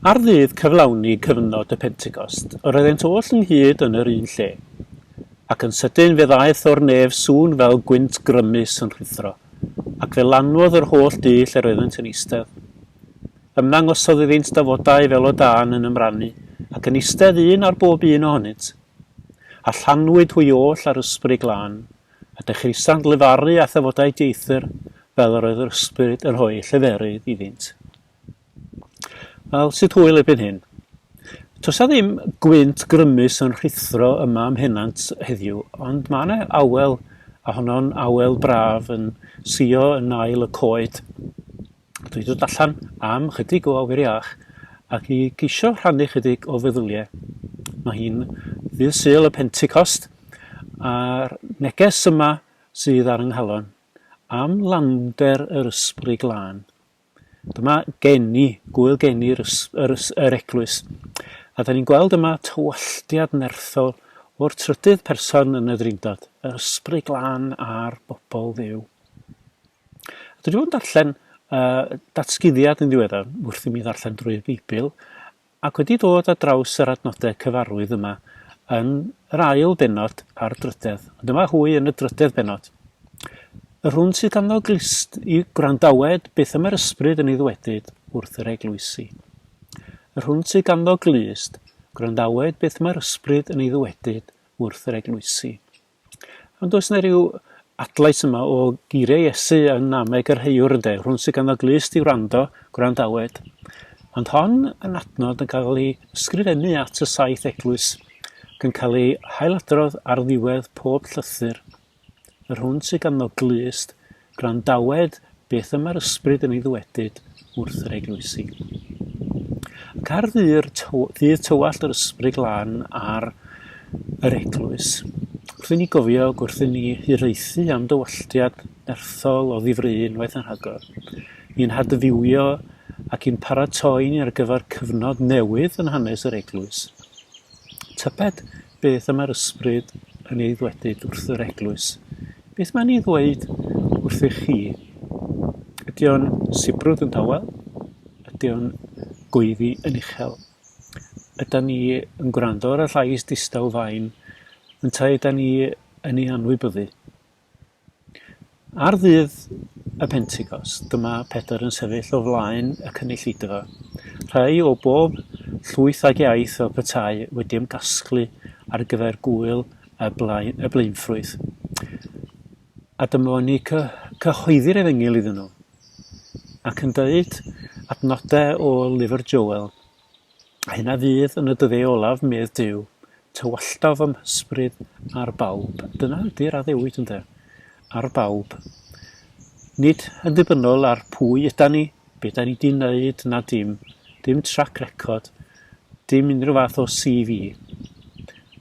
Ar ddydd cyflawni cyfnod y Pentecost, yr oeddent oll ynghyd yn yr un lle. Ac yn sydyn fe ddaeth o'r nef sŵn fel gwynt grymus yn rhuthro, ac fe lanwodd yr holl dŷ lle roeddent yn eistedd. Ymddangosodd iddynt dafodau fel o dân yn ymrannu, ac yn eistedd un ar bob un ohonynt. A llanwyd hwy oll â'r Ysbryd Glân, a dechreusant lefaru â thafodau dieithr fel yr oedd yr ysbryd yn rhoi lleferydd iddynt. Wel, sut hwyl erbyn hyn? Tosa ddim gwynt grymus yn rhithro yma am henant heddiw, ond mae yna awel, a honno'n awel braf yn sio yn ail y coed. Dwi 'di dod allan am chydig o awyr iach ac i geisio rhannu chydig o feddyliau. Mae hi'n ddydd Sul y Pentecost a'r neges yma sydd ar ynghalon am lander yr ysbryd glân. Dyma geni, gwyl geni yr, ys, yr, ys, yr eglwys. A da ni'n gweld yma tywalltiad nerthol o'r trydydd person yn y ddrindod, yr ysbryd glân a'r bobl ddew. Dwi 'di bod yn darllen uh, datguddiad yn ddiweddar wrth i mi ddarllen drwy'r Beibl, ac wedi dod ar draws yr adnodau cyfarwydd yma yn yr ail benod a'r drydedd. Ond dyma hwy yn y drydedd benod. Yr hwn sydd ganddo glist i gwrandawed beth y mae'r ysbryd yn ei ddwedyd wrth yr eglwysi. Yr hwn sydd ganddo glist, gwrandawed beth mae'r ysbryd yn ei ddwedyd wrth yr eglwysi. Ond oes yna ryw adlais yma o geiriau Iesu yn nameg yr haewyr ynde, rhwng sydd ganddo glust i wrando, gwrandawed. Ond hon yn adnod yn cael ei ysgrifennu at y saith eglwys ac yn cael ei hailadrodd ar ddiwedd pob llythyr. Yr hwn sydd ganddo glust Gwrandawed beth y mae'r Ysbryd yn ei ddwedyd wrth yr eglwysi. Ac ar ddy'r ddydd tywallt yr Ysbryd Glân ar yr eglwys, wrth i ni gofio ac wrth i ni hiraethu am dywalltiad nerthol o ddifri unwaith yn rhagor, i'n hadfywio ac i'n paratoi ni ar gyfer cyfnod newydd yn hanes yr eglwys. Tybed beth y mae'r ysbryd yn ei ddwedyd wrth yr eglwys. Beth mae'n ei ddweud wrthych chi? Ydy o'n sibrwd yn dawel? Ydy o'n gweiddi yn uchel? Ydy ni yn gwrando ar y llais distaw fain? Yntau ydy ni yn ei anwybyddu? Ar ddydd y Pentecost, dyma Pedr yn sefyll o flaen y cynulleidfa. Rhai o bob llwyth ag iaith o petai wedi ymgasglu ar gyfer gŵyl y, blaen, y blaenffrwyth. A dyma ni cyhoeddi'r efengyl iddyn nhw. Ac yn dweud adnodau o lyfr Joel A hyn a fydd yn y dyddiau olaf, medd Duw, tywalltaf fy mhysbryd ar bawb. Dyna ydy'r addewid, ynde? Ar bawb. Nid yn ddibynnol ar pwy yda ni, be da ni di wneud na dim, dim trac record, dim unrhyw fath o CV.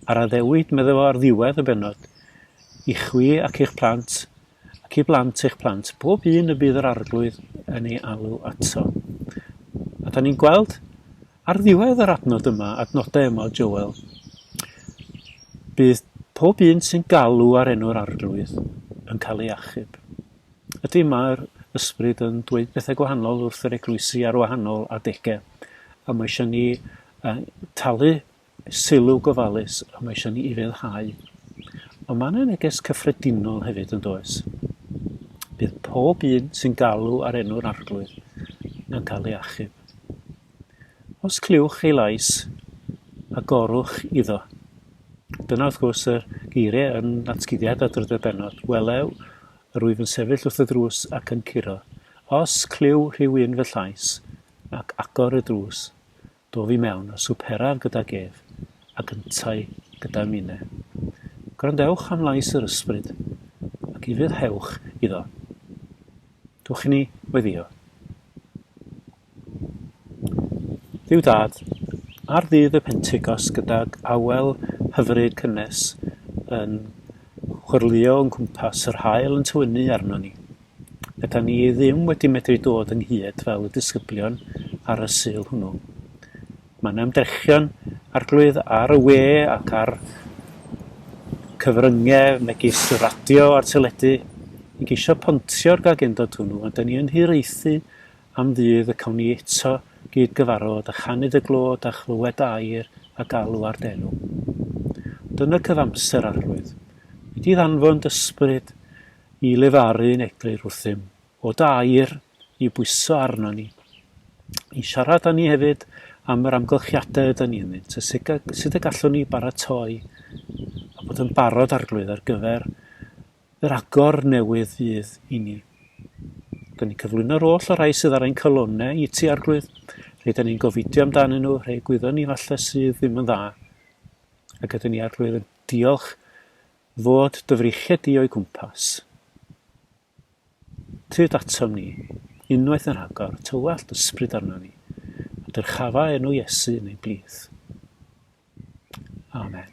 Ar addewid, meddai fo ar ddiwedd y benod, i chwi ac i'ch plant, ac i blant eich plant, pob un y bydd yr Arglwydd yn ei alw ato. A da ni'n gweld ar ddiwedd yr adnod yma, adnodau yma o Joel, bydd pob un sy'n galw ar enw'r Arglwydd yn cael ei achub. Ydy mae'r ysbryd yn dweud pethau gwahanol wrth yr eglwysi ar wahanol adegau. A mae eisiau ni uh, talu Sylw gofalus y mae eisiau ni ufuddhau. Ond mae yna neges cyffredinol hefyd yn does. Bydd pob un sy'n galw ar enw'r Arglwydd yn cael ei achub. Os clywch ei lais, agorwch iddo. Dyna wrth gwrs yr geiriau yn natguddiad a drydedd benod. Welew yr wyf yn sefyll wrth y drws ac yn curo. Os clyw rhyw un fy llais, ac agor y drws, Dof i mewn a swperaf gydag ef, ac yntau gyda Mine. Gwrandewch am lais yr Ysbryd, ac ufuddhewch iddo. Dwch i ni weddïo. Dduw Dad, ar ddydd y Pentecost gydag awel hyfryd cynnes yn chwyrlïo o'n cwmpas, yr haul yn tywynnu arnon ni, Rydan ni ddim wedi medru dod ynghyd fel y disgyblion ar y Sul hwnnw. Mae yna ymdrechion Arglwydd ar y we ac ar cyfryngau megis y radio a'r teledu i geisio pontio'r gagendod hwnnw, ond 'da ni yn hiraethu am ddydd y cawn ni eto gyd-gyfarfod a chanid y glod a chlywed air a galw ar dy enw. Ond yn y cyfamser, Arglwydd, wedi i ddanfon d'Ysbryd i lefaru'n eglur wrthym, o da air i'w bwyso arnon ni, i siarad â ni hefyd am yr amgylchiadau ydyn ni ynddynt, a sut, sut y gallwn ni baratoi a bod yn barod arglwydd ar gyfer yr agor newydd fydd i ni. Rydyn ni'n cyflwyno'r oll o'r rhai sydd ar ein calonnau i ti, arglwydd. Rydyn ni'n gofidio amdanyn nhw, rhai gwyddon ni falle sydd ddim yn dda. Ac ydyn ni, arglwydd, yn diolch Fod dyfriechedu o'i gwmpas. Tyd atom ni, unwaith yn rhagor, tywallt ysbryd arnon ni, a dyrchafa enw Iesu yn ei blith. Amen.